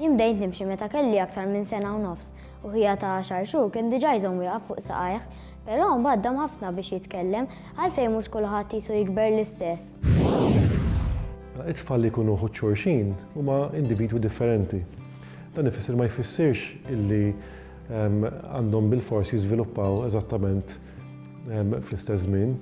Jien bdejt nimxi meta kelli aktar minn sena u nofs u ħija ta' għaxar xhur kien diġà jżomm wieqaf fuq saqajh, però mbagħad dam ħafna biex jitkellem, għalfejn mhux kulħadd qisu jikber l-istess? It-tfal li jkunu uħud xulxin huma individwi differenti. Dan ifisser li ma jfissirx illi għandhom bilfors jiżviluppaw eżattament fl-istess żmien.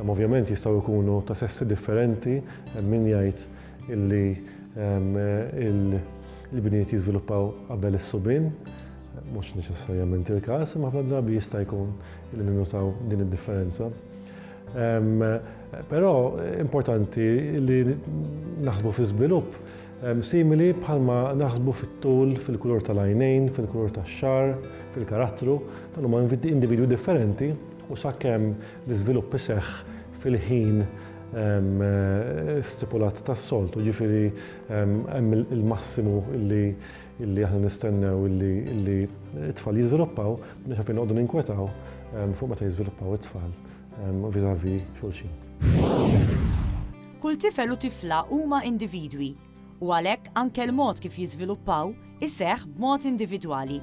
Ovvjament jistgħu jkunu ta' sessi differenti, hemm min jgħid illi l-ibniet jiżviluppaw qabel is-subien, mhux neċessarjament il-każ, imma ħafna drabi jista' jkun illi ninnutaw din id-differenza. Però importanti li naħsbu fi żvilupp simili bħalma naħsbu fit-tul, fil-kulur tal-għajnejn, fil-kulur tax-xagħar, fil-karattru, dawn huma individwi differenti, u sakemm l-iżvilupp iseħħ fil-ħin stipulat tas-soltu, jiġifieri hemm il-massimu li aħna nistennew li t-tfal jiżviluppaw, m'aħniex għalfejn noqogħdu ninkwetaw fuq meta jiżviluppaw it-tfal vis-à-vis xulxin. Kull tifel u tifla huma individwi u għalhekk anke l-mod kif jiżviluppaw iseħħ b'mod individwali.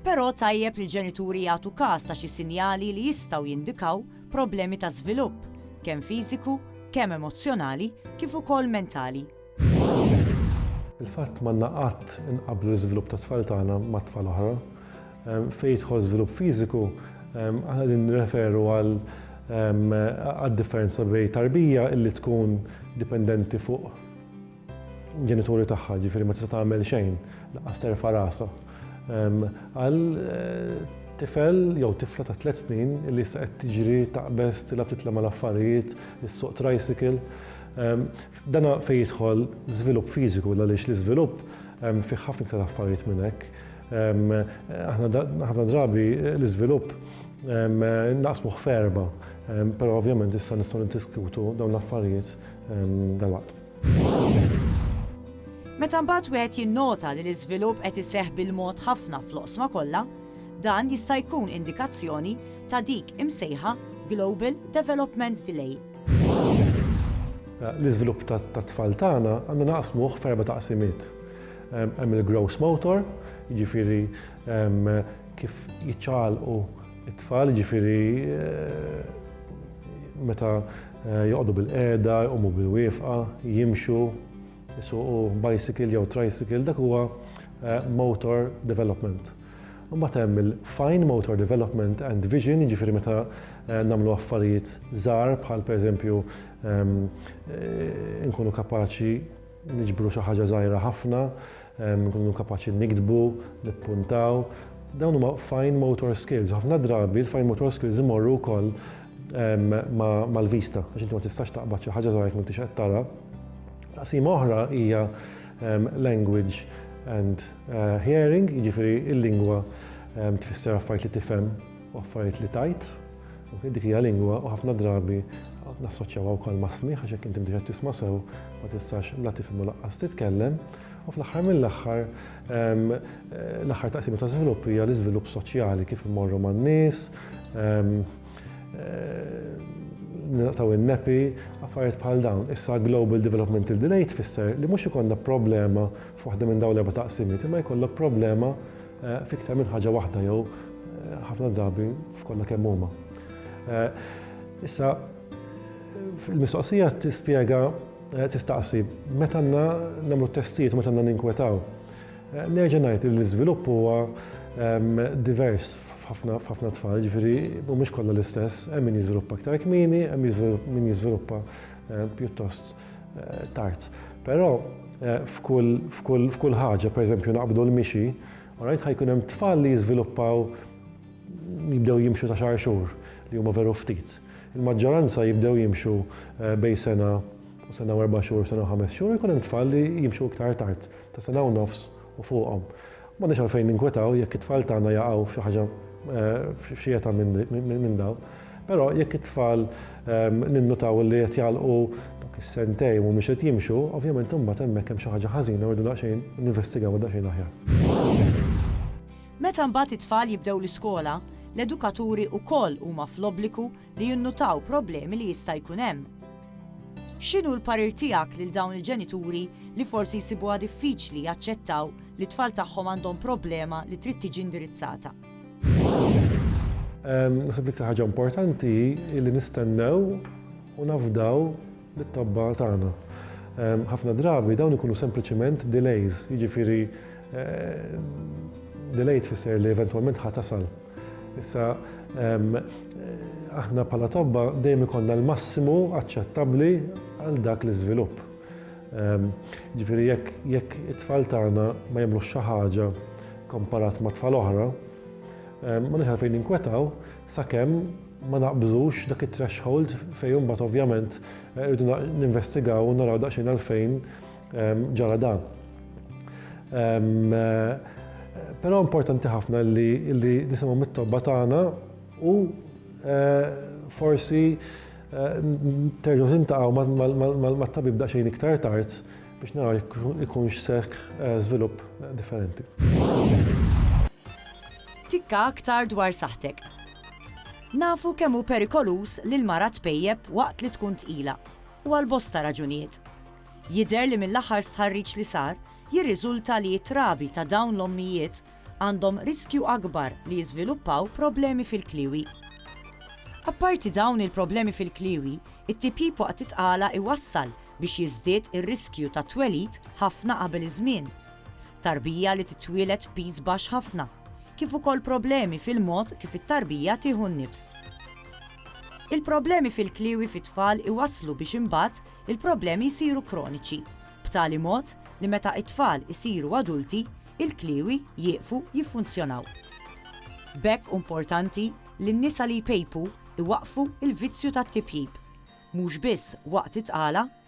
Però tajjeb li l-ġenituri jagħtu kas ta' xi sinjali li jistgħu jindikaw problemi ta' żvilupp, kemm fiżiku, kemm emozzjonali kif ukoll mentali. Fil-fatt m'għandna qatt inqabblu l-iżvilupp tat-tfal tagħna mat-tfal oħra. Fejn jidħol żvilupp fiżiku, aħna qegħdin nirreferu għal għad-differenza bejn tarbija li tkun dipendenti fuq ġenituri tagħha, ġifieri ma tista' tagħmel xejn, lanqas terfa' rasha, għal tifel jew tifla ta' tliet snin li issa qed tiġri, taqbeż, tilgħab titla' mal-affarijiet, issuq tricycle. Dan fejn jidħol żvilupp fiżiku għaliex l-iżvilupp fih ħafna iktar affarijiet minn hekk. Aħna ħafna drabi l-iżvilupp naqsmuh f'erba', però ovvjament issa nistgħu niddiskutu dawn l-affarijiet dalwaqt. Meta mbagħad wieħed jinnota li l-iżvilupp qed iseħħ bil-mod ħafna fl-oqsma kollha, dan jista' jkun indikazzjoni ta' dik imsejħa global development delay. L-iżvilupp tat-tfal tagħna għandna naqsmuh f'erba' taqsimiet. Hemm il-growth motor, jiġifieri kif jiċċaqalqu t-tfal, jiġifieri meta joqogħdu bilqiegħda, jqumu bilwieqfa, jimxu, jsuqu bicycle jew tricycle, dak huwa motor development. Imbagħad hemm il-fine motor development and vision, jiġifieri meta nagħmlu affarijiet żgħar bħal pereżempju nkunu kapaċi niġbru xi ħaġa żgħira ħafna, nkunu kapaċi niktbu, nippuntaw. Dawn huma fine motor skills. Ħafna drabi l-fine motor skills imorru wkoll mal-vista, għax inti ma tistax taqbad xi ħaġa żgħira jekk m'intix qed tara. Taqsima oħra hija language and Hearing, jiġifieri l-lingwa tfisser affarijiet li tifhem u affarijiet li tgħid. Dik hija lingwa u ħafna drabi nassoċjawha wkoll ma' smigħ għax jekk inti mhux qed tisma' sew ma tistax la tifhem u lanqas titkellem. U fl-aħħar mill-aħħar l-aħħar taqsima ta' żvilupp hija l-iżvilupp soċjali kif immorru man-nies, nilqtaw in-nepi, affarijiet bħal dawn. Issa global developmental delay tfisser li mhux ikollna problema F'waħda minn dawn l-erba' taqsimiet imma jkollok problema f'iktar minn ħaġa waħda jew ħafna drabi f'kollha kemm huma. Issa, il-mistoqsija tispjega tistaqsi meta għandna nagħmlu testijiet u meta għandna ninkwetaw. Nerġa' ngħid li l-iżvilupp huwa divers f'ħafna tfal, ġifieri mhumiex kollha l-istess, hemm min jiżviluppa aktar kmieni, hemm min jiżviluppa pjuttost tard. Però eh, f'kull ħaġa, pereżempju naqbdu l-mixi, rajt ħajkun hemm tfal li jiżviluppaw jibdew jimxu ta' xar xhur li huma veru ftit. Il-maġġoranza jibdew jimxu eh, bej sena u sena erba' xhur, sena ħames xhur, jkun hemm tfal li jimxu iktar tard, ta' sena u nofs u fuqhom. M'għandniex għalfejn ninkwetaw jekk it-tfal tagħna jaqgħu f'xi ħaġa f'xi età minn dawn. Però jekk it-tfal ninnutaw li qed jagħlqu dawk is-sentejn u mhumiex qed jimxu, ovvjament imbagħad hemmhekk hemm xi ħaġa ħażina u rridu daqsxejn ninvestigawha daqsxejn aħjar. Meta mbagħad it-tfal jibdew l-iskola, l-edukaturi wkoll huma fl-obbligu li jinnutaw problemi li jista' jkun hemm. X'inhu l-parir tiegħek lil dawn il-ġenituri li forsi jsibuha diffiċli jaċċettaw li t-tfal tagħhom għandhom problema li trid tiġi indirizzata? Naħseb l-iktar ħaġa importanti hi li nistennew u nafdaw lit-tobba tagħna. Ħafna drabi dawn ikunu sempliċiment delays, jiġifieri delay tfisser li eventwalment ħa tasal. Issa aħna bħala tobba dejjem ikollna l-massimu aċċettabbli għal dak l-iżvilupp. Ehm, ġifiri, jekk it-tfal tagħna ma jemlu xi ħaġa komparat ma' tfal oħra, ehm, ma nixħal fejn inkwetaw, sakemm ma naqbżux dak it-threshold fejn imbagħad ovvjament irridu ninvestigaw u naraw daqsxejn għalfejn ġara dan. Però importanti ħafna li nisimgħu mit-tobba tagħna u forsi terġgħu tintaqgħu mat-tabib daqsxejn iktar tard biex naraw jekk ikunx seħħ żvilupp differenti. Tikka aktar dwar saħħtek. Nafu kemm hu perikoluż li l-mara tpejjep waqt li tkun tqila, u għal bosta raġunijiet. Jidher li mill-aħħar stħarriġ li sar jirriżulta li t-trabi ta' dawn l-ommijiet għandhom riskju akbar li jiżviluppaw problemi fil-kliewi. Apparti dawn il-problemi fil-kliewi, it-tipjip waqt it-tqala jwassal biex jiżdied ir-riskju tat-twelid ħafna qabel iż-żmien. Tarbija li titwieled b'piż baxx ħafna, kif ukoll problemi fil-mod kif it-tarbija tieħu n-nifs. Il-problemi fil-kliewi fit-tfal iwasslu biex imbagħad il-problemi jsiru kroniċi, b'tali mod li meta t-tfal isiru adulti, il-kliewi jieqfu jiffunzjonaw. B'hekk hu importanti li n-nisa li jpejpu jwaqqfu l-vizzju tat-tipjip, mhux biss waqt it-tqala